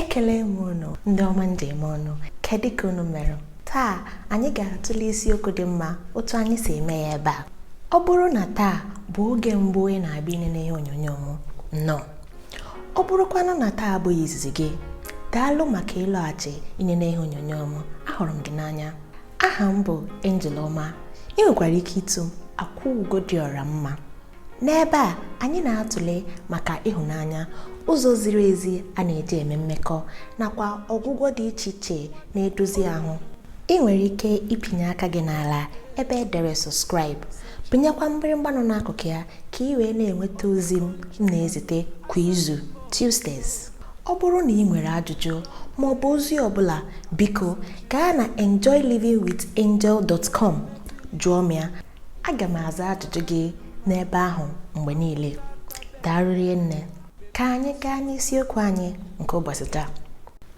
ekele m unu ndị ọma m ji eme ọnụ kedụ ka unu mere taa anyị ga-atụle isiokwu dị mma otu anyị si eme ya ebe a ọ bụrụ na taa bụ oge mbụ ị na-abịa inene ihe onyonyo m nnọọ ọ bụrụkwanụ na taa abụghị izizi gị daalụ maka ịlọghachi inene ihe onyonyo m ahụrụ m gị n'anya aha m bụ Angel Ọma ị nwekwara ike itu m akwa ugo dị ọra mma n'ebe a anyị na-atụle maka ịhụnanya ụzọ ziri ezi a na-eji eme mmekọ nakwa ọgwụgwọ dị iche iche na-edozi ahụ ị nwere ike ịpịnye aka gị n'ala ebe e dere subscribe pịnyekwa mgbịrịgba nọ n'akụkụ ya ka ị wee na-enweta ozi m na-ezite kwa izu Tuesdays Ọ bụrụ na ị nwere ajụjụ ma ọ bụ ozi ọ bụla, biko gaa na enjoylivingwithangel.com jụọ m ya. Aga m aza ajụjụ gị n'ebe ahụ mgbe niile. Daalụ rinne. Ka anyị gaa n'isiokwu anyị nke ụbọchị taa.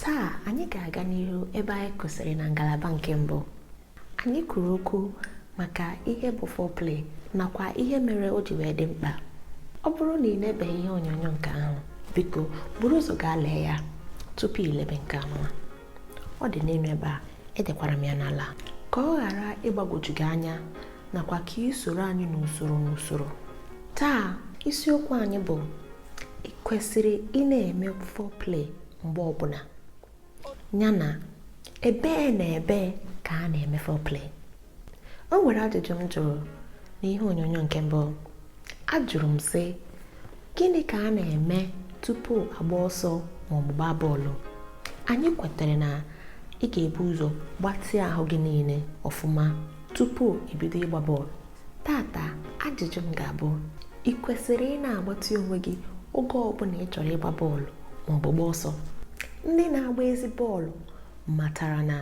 Taa anyị ga-aga n'ihu ebe anyị kwụsịrị na ngalaba nke mbụ. Anyị kwuru okwu maka ihe bụ foreplay nakwa ihe mere o ji wee dị mkpa. Ọ bụrụ na ị lebeghị ihe onyonyo nke ahụ, biko buru ụzọ gaa lee ya tupu ilebe nke anwa. Ọ dị n'elu ebe a, edekwara m ya n'ala ka ọ ghara ịgbagwoju gị anya nakwa ka ị soro anyị n'usoro n'usoro. Taa isiokwu anyị bụ ị kwesịrị ị na-eme foreplay mgbe ọbụla. ya na ebee na ebee ka a na-eme foreplay o nwere ajụjụ m jụrụ n'ihe onyonyo nke mbụ ajụrụ m sị gịnị ka a na-eme tupu a gbaa ọsọ ma ọ bụ gbaa bọọlụ anyị kwetara na ị ga-ebu ụzọ gbatịa ahụ gị niile ọfụma tupu ibido ịgba bọọlụ taata ajụjụ m ga-abụ ị kwesịrị ị na-agbatị onwe gị oge ọbụla ị chọrọ ịgba bọọlụ ma ọ bụ gbaa ọsọ ndị na-agba ezi bọọlụ matara na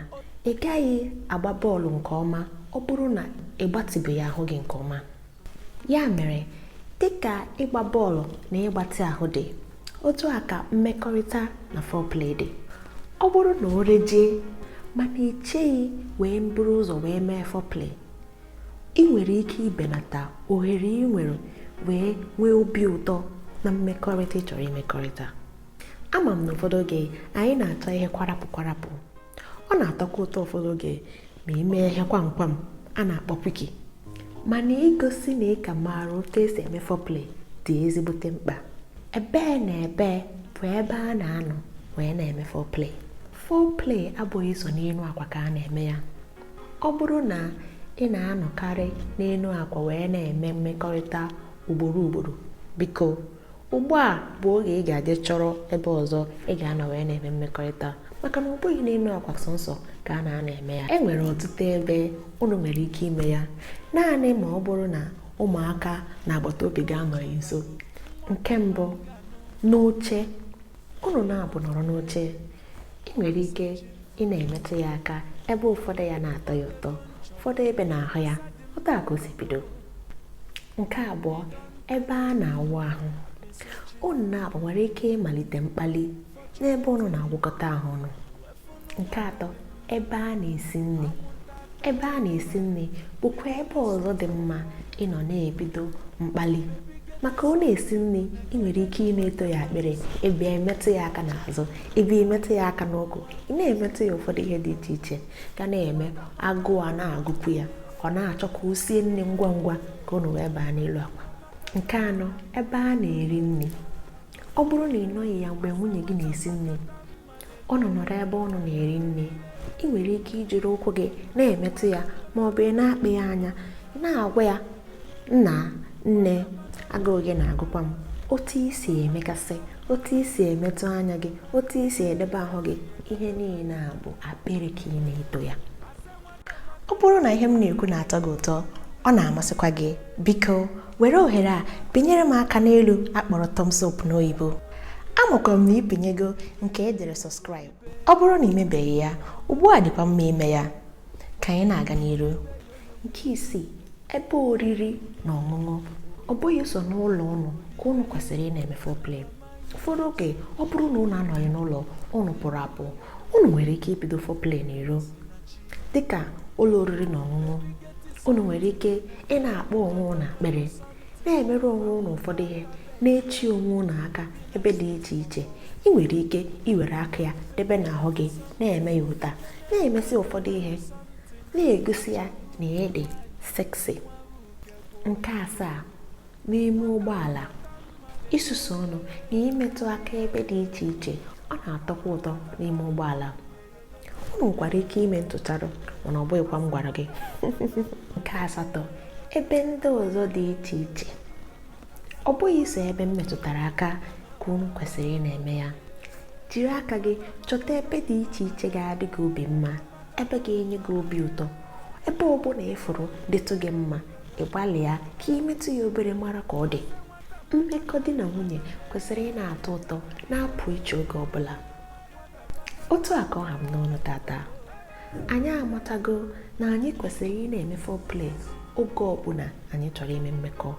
ị gaghị agba bọọlụ nke ọma ọ bụrụ na ị gbatịbeghị ahụ gị nke ọma ya mere dịka ịgba bọọlụ na ịgbatị ahụ dị otu a ka mmekọrịta na foreplay dị ọ bụrụ na o rejie mana icheghị wee buru ụzọ wee mee foreplay ị nwere ike ibelata ohere ị nwere wee nwee obi ụtọ na mmekọrịta ị chọrọ imekọrịta ama m na ụfọdụ oge anyị na-achọ ihe kwarapụ kwarapụ ọ na-atọkwa ụtọ ụfọdụ oge ma i mee ihe kwamkwam a na-akpọ quickie mana igosi na ị ka maara otu e si eme foreplay dị ezigbote mkpa ebee na ebee bụ ebe a na-anọ wee na-eme foreplay foreplay abụghị sọ n'elu akwa ka a na-eme ya ọ bụrụ na ị na-anọkarị n'elu akwa wee na-eme mmekọrịta ugboro ugboro biko ugbu a bụ oge ị ga-eji chọrọ ebe ọzọ ị ga-anọ wee na-eme mmekọrịta maka na ọ bụghị n'elu akwa sọnsọ ka a na-anọ eme ya e nwere ọtụtụ ebe unu nwere ike ime ya naanị ma ọ bụrụ na ụmụaka na agbata obi gị anọghị ya nso nke mbụ n'oche unu na abụọ nọrọ n'oche ị nwere ike ị na-emetụ ya aka ebe ụfọdụ ya na-atọ ya ụtọ ụfọdụ ebe n'ahụ ya otu a ka o si ebido nke abụọ ebe a na-awụ ahụ unu na abụọ nwere ike ịmalite mkpali n'ebe unu na-awụkọta ahụ ọnụ nke atọ ebe a na-esi nri ebe a na-esi nri bụkwa ebe ọzọ dị mma ịnọ na-ebido mkpali maka ọ na-esi nri ị nwere ike ị na-eto ya akpịrị ebe emetụ ya aka n'azụ ebe emetụ ya aka n'ukwu ị na-emetụ ya ụfọdụ ihe dị iche iche ga na-eme agụụ a na-agụkwu ya ọ na-achọ ka o sie nri ngwa ngwa ka unu wee baa n'elu akwa nke anọ ebe a na-eri nri ọ bụrụ na ị nọghị ya mgbe nwunye gị na-esi nri unu nọrọ ebe unu na-eri nri ị nwere ike ijiri ụkwụ gị na-emetụ ya ma ọ bụ ị na-akpị ya anya na-agwa ya nna nne agụụ gị na-agụkwa m otu i si emekasị otu i si emetụ anya gị otu i si edebe ahụ gị ihe niile a bụ akpịrị ka ị na-eto ya ọ bụrụ na ihe m na-ekwu na-atọ gị ụtọ ọ na-amasịkwa gị biko were ohere a pịnyere m aka n'elu a kpọrọ thumbs up n'oyibo amakwa m na ị pịnyego nke e dere subscribe ọ bụrụ na i mebeghị ya ugbu a dịkwa mma ime ya ka anyị na-aga n'iru nke isii ebe oriri na ọṅụṅụ ọ bụghị sọ n'ụlọ ụnụ ka ụnụ kwesịrị ị na-eme foreplay ụfọdụ oge ọ bụrụ na ụnụ anọghị n'ụlọ ụnụ pụrụ apụ ụnụ nwere ike ibido foreplay n'iro dịka ụlọ oriri na ọṅụṅụ ụnụ nwere ike ị na-akpọ onwe ụnụ akpịrị na-emere onwe ụnụ ụfọdụ ihe na-echi onwe ụnụ aka ebe dị iche iche ị nwere ike iwere aka ya debe n'ahụ gị na-eme ya ụta na-emesi ụfọdụ ihe na-egosi ya na ị dị sexy nke asaa n'ime ụgbọala ịsusu ọnụ na imetụ aka ebe dị iche iche ọ na-atọkwa ụtọ n'ime ụgbọala ọ nwekwara ike ime ntụcharụ mana ọ bụghịkwa m gwara gị nke asatọ ebe ndị ọzọ dị iche iche ọ bụghị sọ ebe m metụtara aka ka unu kwesịrị ị na-eme ya jiri aka gị chọta ebe dị iche iche ga-adị gị obi mma ebe ga-enye gị obi ụtọ ebe ọ bụla ị fụrụ dịtụ gị mma ị gbalịa ka ị metụ ya obere mara ka ọ dị mmekọ di na nwunye kwesịrị ị na-atọ ụtọ na-apụ iche oge ọ bụla otu a ka ọ ha m n'ọnụ tata anyị amatago na anyị kwesịrị ị na-eme foreplay oge ọ bụla anyị chọrọ ime mmekọ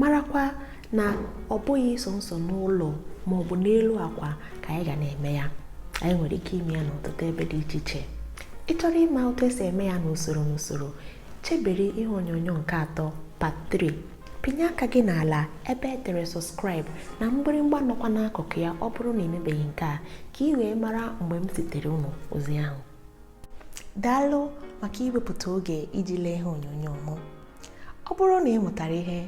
marakwa na ọ bụghị sọọsọ n'ụlọ ma ọ bụ n'elu akwa ka anyị ga na-eme ya anyị nwere ike ime ya n'ọtụtụ ebe dị iche iche ị chọrọ ịma otu esi eme ya n'usoro n'usoro chebere ihe onyonyo nke atọ part 3 pịnye aka gị n'ala ebe e dere sọskraịbụ na mgbịrịmgba nọkwa n'akụkụ ya ọ bụrụ na i mebeghị nke a ka ị wee mara mgbe m zitere unu ozi ahụ daalụ maka iwepụta oge iji lee ihe onyonyo m ọ bụrụ na ị mụtara ihe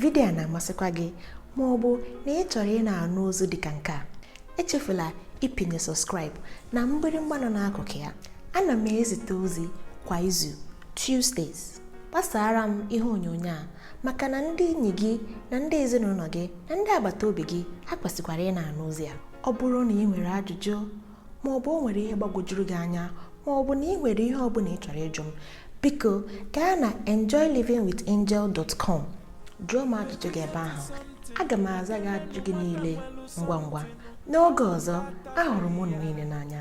vidiyo a na-amasịkwa gị ma ọ bụ na ị chọrọ ị na-anụ ozi dị ka nke a echefula ịpịnye sọskraịbụ na mgbịrịmgba nọ n'akụkụ ya ana m ezite ozi kwa izu Tuesdays gbasaara m ihe onyonyo a maka na ndị enyi gị na ndị ezinụlọ gị na ndị agbata obi gị ha kwesịkwara ị na-anụ ozi a ọ bụrụ na ị nwere ajụjụ ma ọ bụ o nwere ihe gbagwojuru gị anya ma ọ bụ na ị nwere ihe ọ bụla ị chọrọ ịjụ m biko gaa na enjoylivingwithangel.com jụọ m ajụjụ gị ebe ahụ aga m aza gị ajụjụ gị niile ngwa ngwa n'oge ọzọ ahụrụ m unu niile n'anya